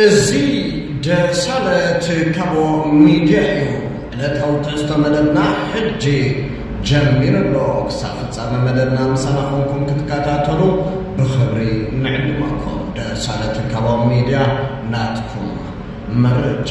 እዚ ደሳለት ካቦ ሚድያ እዩ ዕለታዊ ትሕዝቶ መደብና ሕጂ ጀሚሩ ኣሎ ክሳብ ፍጻመ መደብና ምሳና ኮንኩም ክትከታተሉ ብኽብሪ ንዕድመኩም ደሳለት ካቦ ሚድያ ናትኩም መረጃ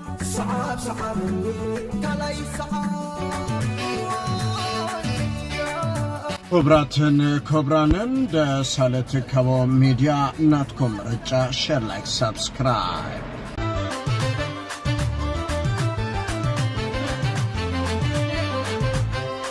ስዓብ ስዓበኒ ካልኣይ ይስዓብ። ክብራትን ክብራንን ደሳለ ትካቦ ሚድያ ናትኩም ምርጫ ሸር ላይክ ሳብስክራይብ።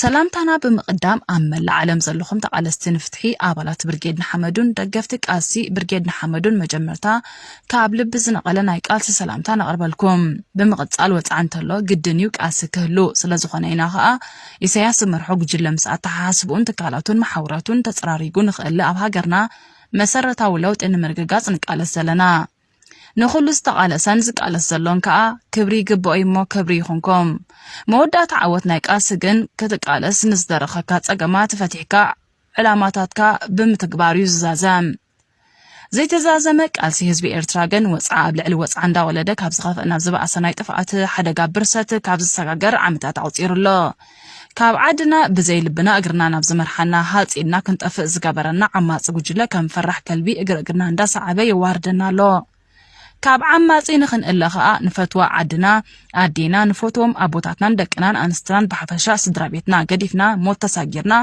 ሰላምታና ብምቕዳም ኣብ መላእ ዓለም ዘለኹም ተቓለስቲ ንፍትሒ ኣባላት ብርጌድ ንሓመዱን ደገፍቲ ቃልሲ ብርጌድ ንሓመዱን መጀመርታ ካብ ልቢ ዝነቐለ ናይ ቃልሲ ሰላምታ ነቕርበልኩም። ብምቕጻል ወጽዓ እንተሎ ግድን እዩ ቃልሲ ክህሉ ስለዝኾነ ኢና ከኣ ኢሳያስ ዝመርሖ ጉጅለ ምስ ኣተሓሳስብኡን ትካላቱን መሓውራቱን ተጸራሪጉ ንኽእለ ኣብ ሃገርና መሰረታዊ ለውጢ ንምርግጋጽ ንቃለስ ዘለና። ንኹሉ ዝተቓለሰን ዝቃለስ ዘሎን ከኣ ክብሪ ይግበኦዩ እሞ ክብሪ ይኹንኩም። መወዳእታ ዓወት ናይ ቃልሲ ግን ክትቃለስ ንዝደረኸካ ጸገማት ፈቲሕካ ዕላማታትካ ብምትግባር እዩ ዝዛዘም። ዘይተዛዘመ ቃልሲ ህዝቢ ኤርትራ ግን ወጽዓ ኣብ ልዕሊ ወጽዓ እንዳወለደ ካብ ዝኸፍእ ናብ ዝበኣሰ ናይ ጥፍኣት ሓደጋ ብርሰት ካብ ዝሰጋገር ዓመታት ኣቑጺሩ ኣሎ። ካብ ዓድና ብዘይ ልብና እግርና ናብ ዝመርሓና ሃጽ ኢልና ክንጠፍእ ዝገበረና ዓማጺ ጉጅለ ከም ፈራሕ ከልቢ እግሪ እግርና እንዳሰዓበ የዋርደና ኣሎ። ካብ ዓማጺ ንኽንእለ ከኣ ንፈትዋ ዓድና ኣዴና ንፈትዎም ኣቦታትናን ደቅናን ኣንስትናን ብሓፈሻ ስድራ ቤትና ገዲፍና ሞት ተሳጊርና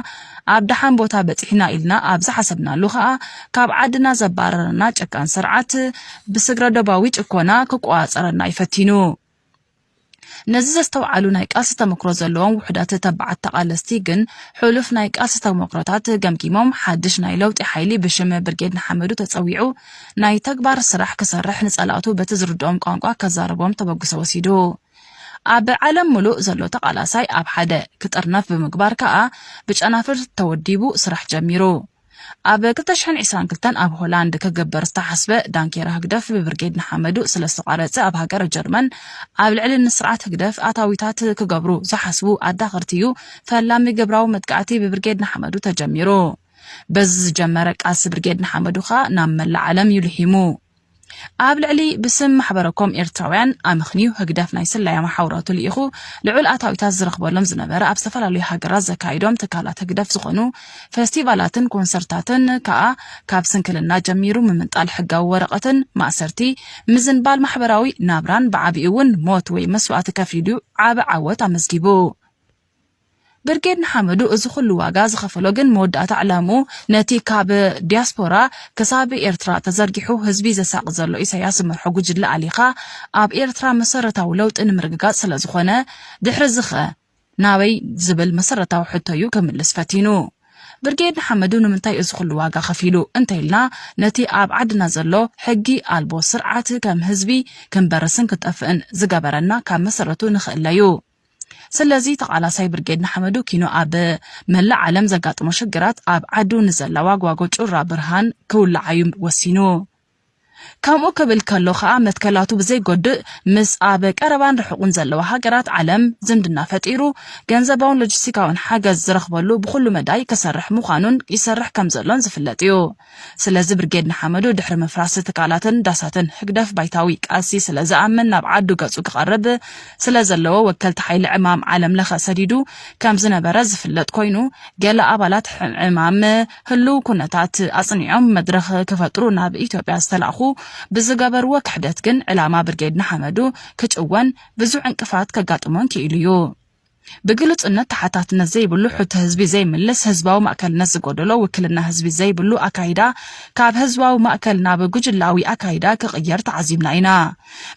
ኣብ ደሓን ቦታ በጺሕና ኢልና ኣብ ዝሓሰብናሉ ከኣ ካብ ዓድና ዘባረረና ጨካን ስርዓት ብስግረ ዶባዊ ጭኮና ክቆጻጸረና ይፈቲኑ። ነዚ ዘስተውዓሉ ናይ ቃልሲ ተመክሮ ዘለዎም ውሑዳት ተባዓት ተቓለስቲ ግን ሕሉፍ ናይ ቃልሲ ተመክሮታት ገምጊሞም ሓድሽ ናይ ለውጢ ሓይሊ ብሽም ብርጌድ ንሓመዱ ተጸዊዑ ናይ ተግባር ስራሕ ክሰርሕ ንጸላእቱ በቲ ዝርድኦም ቋንቋ ከዛርቦም ተበግሶ ወሲዱ ኣብ ዓለም ምሉእ ዘሎ ተቓላሳይ ኣብ ሓደ ክጥርነፍ ብምግባር ከኣ ብጨናፍር ተወዲቡ ስራሕ ጀሚሩ። ኣብ ክልተ ሽሕን ዒስራን ክልተን ኣብ ሆላንድ ክግበር ዝተሓስበ ዳንኬራ ህግደፍ ብብርጌድ ንሓመዱ ስለ ዝተቋረጸ ኣብ ሃገረ ጀርመን ኣብ ልዕሊ ንስርዓት ህግደፍ ኣታዊታት ክገብሩ ዝሓስቡ ኣዳኸርቲ እዩ ፈላሚ ግብራዊ መጥቃዕቲ ብብርጌድ ንሓመዱ ተጀሚሩ። በዚ ዝጀመረ ቃልሲ ብርጌድ ንሓመዱ ከኣ ናብ መላእ ዓለም እዩ ልሒሙ። ኣብ ልዕሊ ብስም ማሕበረኮም ኤርትራውያን ኣመኽንዩ ህግደፍ ናይ ስለያ መሓውራቱ ልኢኹ ልዑል ኣታዊታት ዝረኽበሎም ዝነበረ ኣብ ዝተፈላለዩ ሃገራት ዘካይዶም ትካላት ህግደፍ ዝኾኑ ፌስቲቫላትን ኮንሰርታትን ከኣ ካብ ስንክልና ጀሚሩ ምምንጣል ሕጋዊ ወረቐትን ማእሰርቲ ምዝንባል ማሕበራዊ ናብራን ብዓቢኡ እውን ሞት ወይ መስዋእቲ ከፊሉ ዓቢ ዓወት ኣመዝጊቡ ብርጌድ ንሓመዱ እዚ ኹሉ ዋጋ ዝኸፈሎ ግን መወዳእታ ዕላምኡ ነቲ ካብ ዲያስፖራ ክሳብ ኤርትራ ተዘርጊሑ ህዝቢ ዘሳቒ ዘሎ ኢሳያስ ዝመርሖ ጉጅለ ኣሊኻ ኣብ ኤርትራ መሰረታዊ ለውጢ ንምርግጋጽ ስለዝኾነ ድሕሪዚኸ ናበይ ዝብል መሰረታዊ ሕቶዩ ክምልስ ፈቲኑ። ብርጌድ ንሓመዱ ንምንታይ እዚ ኹሉ ዋጋ ከፊሉ እንተኢልና ነቲ ኣብ ዓድና ዘሎ ሕጊ ኣልቦ ስርዓት ከም ህዝቢ ክንበርስን ክንጠፍእን ዝገበረና ካብ መሰረቱ ንክእለዩ። ስለዚ ተቓላሳይ ብርጌድ ንሓመዱ ኪኖ ኣብ መላእ ዓለም ዘጋጥሞ ሽግራት ኣብ ዓዱ ንዘላዋ ጓጎ ጩራ ብርሃን ክውላዓዩ ወሲኑ። ከምኡ ክብል ከሎ ከኣ መትከላቱ ብዘይጎድእ ምስ ኣብ ቀረባን ርሑቕን ዘለዋ ሃገራት ዓለም ዝምድና ፈጢሩ ገንዘባውን ሎጂስቲካውን ሓገዝ ዝረኽበሉ ብኹሉ መዳይ ክሰርሕ ምዃኑን ይሰርሕ ከምዘሎን ዝፍለጥ እዩ። ስለዚ ብርጌድ ንሓመዱ ድሕሪ ምፍራስ ትካላትን ዳሳትን ህግደፍ ባይታዊ ቃልሲ ስለ ዝኣምን ናብ ዓዱ ገጹ ክቐርብ ስለ ዘለዎ ወከልቲ ሓይሊ ዕማም ዓለም ለኸ ሰዲዱ ከም ዝነበረ ዝፍለጥ ኮይኑ ገለ ኣባላት ዕማም ህሉው ኩነታት ኣጽኒዖም መድረኽ ክፈጥሩ ናብ ኢትዮጵያ ዝተላእኩ ብዝገበርዎ ክሕደት ግን ዕላማ ብርጌድ ንሓመዱ ክጭወን ብዙሕ ዕንቅፋት ከጋጥሞን ክኢሉ እዩ። ብግሉጽነት ተሓታትነት ዘይብሉ ሕቶ ህዝቢ ዘይምልስ ህዝባዊ ማእከልነት ዝጎደሎ ውክልና ህዝቢ ዘይብሉ ኣካይዳ ካብ ህዝባዊ ማእከል ናብ ጉጅላዊ ኣካይዳ ክቕየር ተዓዚብና ኢና።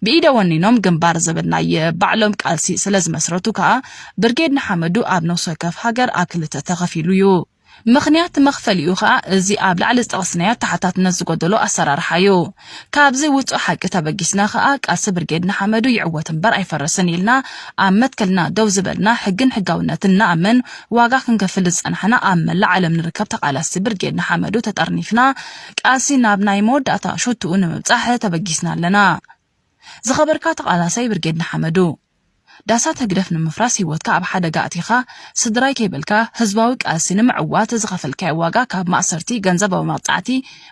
ብኢደ ወኒኖም ግንባር ዘበልናዬ ባዕሎም ቃልሲ ስለዝመስረቱ ከኣ ብርጌድ ንሓመዱ ኣብ ነፍሲ ወከፍ ሃገር ኣብ ክልተ ተኸፊሉ እዩ። ምኽንያት መኽፈሊኡ ከኣ እዚ ኣብ ላዕሊ ዝጠቐስናዮ ተሓታትነት ዝጎደሎ ኣሰራርሓ እዩ። ካብዚ ውጹእ ሓቂ ተበጊስና ከኣ ቃልሲ ብርጌድ ንሓመዱ ይዕወት እምበር ኣይፈርስን ኢልና ኣብ መትከልና ደው ዝበልና ሕግን ሕጋውነትን ንኣምን ዋጋ ክንከፍል ዝጸናሕና ኣብ መላእ ዓለም ንርከብ ተቓላስቲ ብርጌድ ንሓመዱ ተጠርኒፍና ቃልሲ ናብ ናይ መወዳእታ ሹትኡ ንምብጻሕ ተበጊስና ኣለና። ዝኸበርካ ተቓላሳይ ብርጌድ ንሓመዱ! ዳሳት ህግደፍ ንምፍራስ ሂወትካ ኣብ ሓደጋ ኣእቲኻ ስድራይ ከይበልካ ህዝባዊ ቃልሲ ንምዕዋት ዝኸፈልካዮ ዋጋ ካብ ማእሰርቲ፣ ገንዘባዊ መቕጻዕቲ፣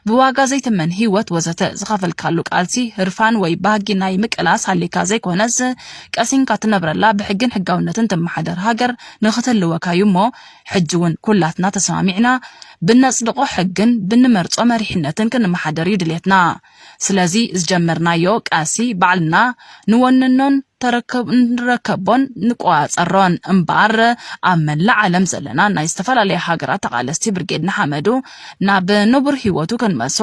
ብዋጋ ዘይትመን ሂወት ወዘተ ዝኸፈልካሉ ቃልሲ ህርፋን ወይ ባህጊ ናይ ምቅላስ ሃልይካ ዘይኮነስ ቀሲንካ ትነብረላ ብሕግን ሕጋውነትን ትመሓደር ሃገር ንኽትህልወካዩ እሞ ሕጂውን ኩላትና ተሰማሚዕና ብነጽድቖ ሕግን ብንመርጾ መሪሕነትን ክንመሓደርዩ ድልየትና። ስለዚ ዝጀመርናዮ ቃልሲ ባዕልና ንወንኖን ንረከቦን ንቆፃፀሮን እምበኣር ኣብ መላእ ዓለም ዘለና ናይ ዝተፈላለያ ሃገራት ተቓለስቲ ብርጌድ ንሓመዱ ናብ ንቡር ህይወቱ ክንመልሶ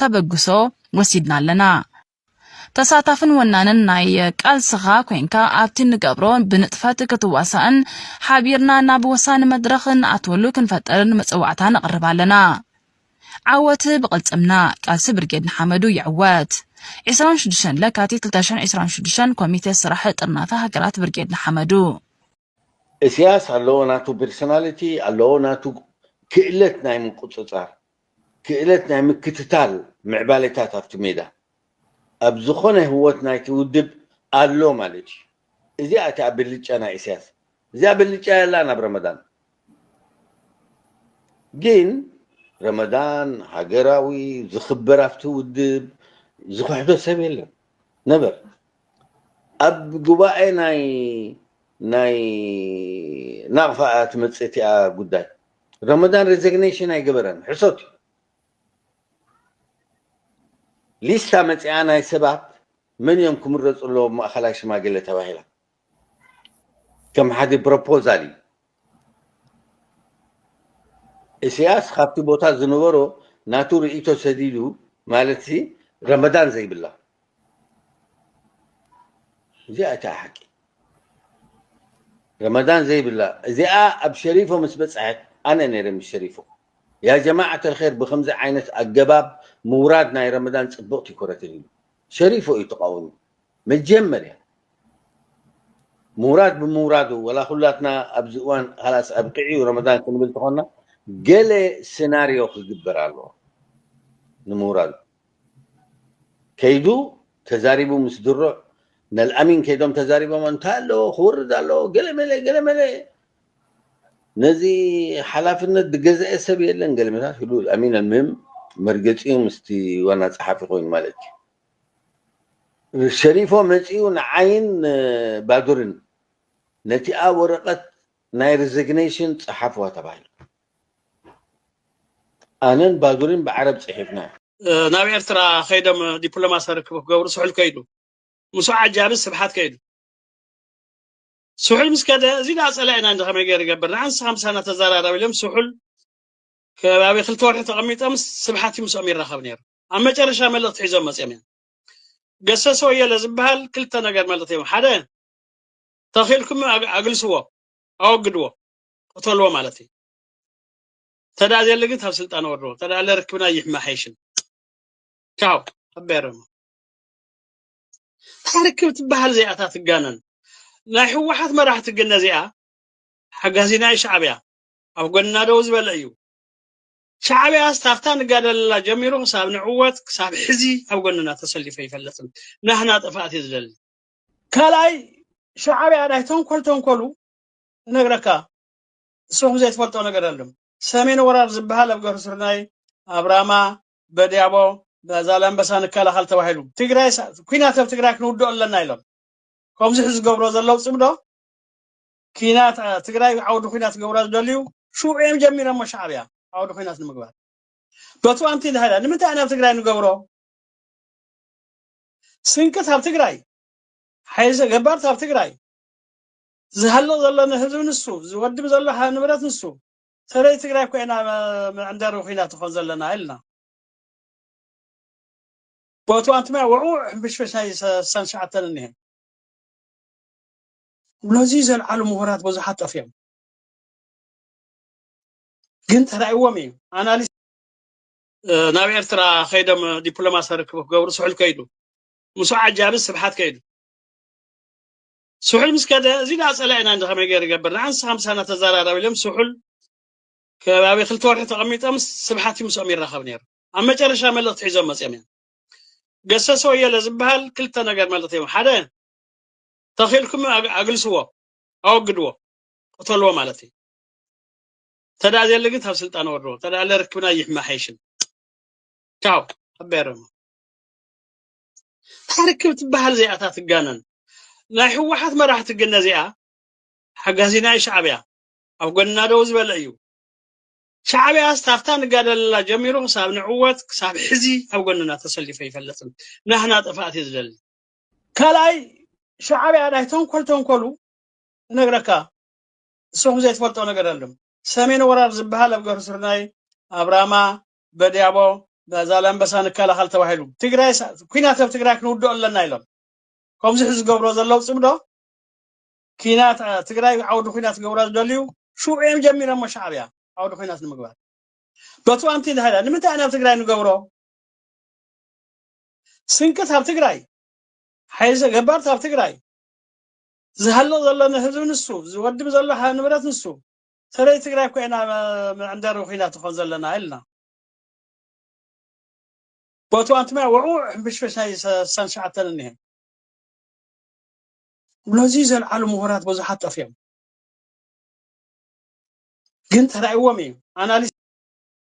ተበግሶ ወሲድና ኣለና። ተሳታፍን ወናንን ናይ ቃልስኻ ኮንካ ኣብቲ ንገብሮ ብንጥፈት ክትዋሳእን ሓቢርና ናብ ወሳኒ መድረኽ ንኣትወሉ ክንፈጥርን መፅዋዕታ ነቕርብ ኣለና። ዓወት ብቕልጽምና! ቃልሲ ብርጌድ ንሓመዱ ይዕወት! ዕስራን ሽዱሽተን ለካቲት ክልተ ሽሕን ዕስራን ሽዱሽተን ኮሚቴ ስራሕ ጥርናፈ ሃገራት ብርጌድ ንሓመዱ! እስያስ ኣለዎ ናቱ ቢርሰናሊቲ ኣለዎ ናቱ ክእለት ናይ ምቁጽጻር ክእለት ናይ ምክትታል ምዕባሌታት ኣብቲ ሜዳ ኣብ ዝኾነ ህወት ናይቲ ውድብ ኣሎ ማለት እዩ እዚኣ እቲኣ ብልጫ ናይ እስያስ እዚኣ ብልጫ የላን ኣብ ረመዳን ግን ረመዳን ሃገራዊ ዝኽበር ኣብቲ ውድብ ዝኽሕዶ ሰብ የለን ነበር ኣብ ጉባኤ ናይ ናይ ናቕፋ እያ ትመፅእ እቲኣ ጉዳይ ረመዳን ሬዚግኔሽን ኣይገበረን ሕሶት እዩ ሊስታ መፅኣ ናይ ሰባት መን እዮም ክምረፁ ኣለዎም ማእኸላይ ሽማግለ ተባሂላ ከም ሓዲ ፕሮፖዛል እዩ። እሰያስ ካብቲ ቦታ ዝነበሮ ናቱ ርእይቶ ሰዲዱ ማለትሲ ረመዳን ዘይብላ እዚኣ እታ ሓቂ ረመዳን ዘይብላ እዚኣ ኣብ ሸሪፎ ምስ በጽሐት ኣነ ነይረ ምስ ሸሪፎ ያ ጀማዓት ኣልኸይር ብከምዚ ዓይነት ኣገባብ ምውራድ ናይ ረመዳን ጽብቕቲ ኮረትን ኢሉ ሸሪፎ እዩ ተቓወሙ መጀመርያ ምውራድ ብምውራዱ ወላ ኩላትና ኣብዚ እዋን ሃላስ ኣብቂዑ ረመዳን ክንብል ተኾንና ገለ ስናርዮ ክግበር ኣለዎ ንምውራዱ ከይዱ ተዛሪቡ ምስ ድሩዕ ነልኣሚን ከይዶም ተዛሪቦም እንታይ ኣለዎ ክወርድ ኣለዎ ገለመለ ገለመለ ነዚ ሓላፍነት ዝገዝአ ሰብ የለን ገለመታት ህሉ ኣሚን ኣልምህም መርገፂኡ ምስቲ ዋና ፀሓፊ ኮይኑ ማለት እዩ ሸሪፎ መጺኡ ንዓይን ባዱርን ነቲኣ ወረቐት ናይ ርዘግነይሽን ጸሓፍዋ ተባሂሉ። ኣነን ባዱርን ብዓረብ ጽሒፍና። ናብ ኤርትራ ከይዶም ዲፕሎማስያዊ ርክብ ክገብሩ ስሑል ከይዱ። ምስኡ ዓጃቢ ስብሓት ከይዱ። ስሑል ምስ ከደ እዚ ድኣ ጸላኢና እንዶ ከመይ ገይሩ ይገብር ንዓን ንስኻ ምሳና ተዘራረብ ኢሎም ስሑል ከባቢ ክልተ ወርሒ ተቐሚጦም ስብሓት እዩ ምስኦም ይራኸብ ነይሩ። ኣብ መጨረሻ መልእኽቲ ሒዞም መፅኦም እዮም ገሰሰ ወየለ ዝበሃል ክልተ ነገር መልእኽቲ እዮም ሓደ ተኺልኩም ኣግልስዎ ኣወግድዎ ቅተልዎ ማለት እዩ ተዳ ዘየለ ግን ካብ ስልጣን ወርድዎ ተዳ ኣለ ርክብና ይሕማሓይሽን ቻው ኣበረሙ ታርክብ ትበሃል ዚኣታ ትጋነን ናይ ህወሓት መራሕቲ ግን ነዚኣ ሓጋዚና ሻዕብያ ኣብ ጎንና ደው ዝበለ እዩ ሻዕብያስ ካብታ ንጋደለላ ጀሚሩ ክሳብ ንዕወት ክሳብ ሕዚ ኣብ ጎንና ተሰሊፉ ኣይፈልጥን። ናህና ጥፍኣት እዩ ዝደሊ። ካልኣይ ሻዕብያ ናይ ተንኮል ተንኮሉ ክነግረካ ንስኹም ዘይትፈልጦ ነገር ኣሎም። ሰሜን ወራር ዝበሃል ኣብ ገርሁ ስርናይ፣ ኣብ ራማ፣ በድያቦ፣ ዛላምበሳ ንከላኸል ተባሂሉ ትግራይ ኩናት ኣብ ትግራይ ክንውድኦ ኣለና ኢሎም ከምዚ ሕዚ ዝገብርዎ ዘለው ፅምዶ ኲናት ኣ፣ ትግራይ ዓውዲ ኲናት ክገብራ ዝደልዩ ሽዑ እዮም ጀሚሮሞ ሻዕብያ ዓውዲ ኲናት ንምግባር በቱ ኣንቲ ድሃዳ ንምንታይ ኣናብ ትግራይ ንገብሮ ስንቅት ኣብ ትግራይ ሓይዘ ገባርት ኣብ ትግራይ ዝሃልቕ ዘሎ ንህዝቢ ንሱ ዝወድብ ዘሎ ሀ- ንብረት ንሱ ሰለዚ ትግራይ ኮይና መዕንደሪ ኩናት ትኾን ዘለና ኢልና ቦቱ ኣንትማይ ውዕውዕ ሕንፍሽፍሽ ናይ ሰ- ሰን ሸዓተን እኒሀ ነዙይ ዘልዓሉ ምሁራት ብዙሓት ጠፊኦም ግን ተራእይዎም እዩ ኣናሊስ ናብ ኤርትራ ከይዶም ዲፕሎማሲ ርክብ ክገብሩ ስሑል ከይዱ ምስ ዓጃቢ ስብሓት ከይዱ ስሑል ምስ ከደ እዚ ዳ ፀላኢና እንደ ከመይ ገይሩ ይገብር ንዓንስ ሃምሳና ተዘራረብ ኢሎም ስሑል ከባቢ ክልተ ወርሒ ተቐሚጦም ስብሓት እዩ ምስኦም ይራኸብ ነይሩ ኣብ መጨረሻ መልእኽቲ ሒዞም መፅኦም እዮም ገሰሰ ወየለ ዝበሃል ክልተ ነገር መልእኽቲ እዮም ሓደ ተኺልኩም ኣግልስዎ ኣወግድዎ ቅተልዎ ማለት እዩ ተዳ ዘለ ግን ካብ ስልጣን ወርድዎ ተዳ ለርክብና ይሕማሓይሽን ቻው ኣበረሙ ታርክብ ትበሃል ዚኣታ ትጋነን ናይ ህወሓት መራሕቲ ግን ነዚኣ ሓጋዚና ሻዕብያ ኣብ ጎንና ደው ዝበለ እዩ ሻዕብያ ስታፍታ ንጋደለላ ጀሚሩ ክሳብ ንዕወት ክሳብ ሕዚ ኣብ ጎንና ተሰሊፈ ይፈለጥን ናህና ጥፍኣት እዩ ዝደሊ ካልኣይ ሻዕብያ ናይ ተንኮል ተንኮሉ እነግረካ ንስኹም ዘይትፈልጦ ነገር ኣለም ሰሜን ወራር ዝበሃል ኣብ ገሩ ስርናይ ኣብ ራማ በድያቦ ዛላምበሳ ንከላኸል ተባሂሉ ትግራይ ኩናት ኣብ ትግራይ ክንውድኦ ኣለና ኢሎም ከምዚ ሕዚ ዝገብሮ ዘለው ፅምዶ ኪናት ትግራይ ዓውዲ ኩናት ገብራ ዝደልዩ ሽዑ እዮም ጀሚሮሞ ሻዕብያ ዓውዲ ኩናት ንምግባር በቱ ኣንቲ ድሃዳ ንምንታይ ናብ ትግራይ ንገብሮ ስንቂ ኣብ ትግራይ ሓይዘ ገባርት ኣብ ትግራይ ዝሃልቕ ዘሎ ንህዝቢ ንሱ ዝወድም ዘሎ ንብረት ንሱ ሰለዚ ትግራይ እኮ ኢና መዕንደሪ ኩናት ንኾን ዘለና ኢልና ቦቱ ኣንትማይ ወዕውዕ ሕንፍሽፍሽ ናይ ሰን ሸዓተን እኒሀ ነዚ ዘልዓሉ ምሁራት ብዙሓት ጠፍዮም ግን ተራእዎም እዩ ኣናሊስ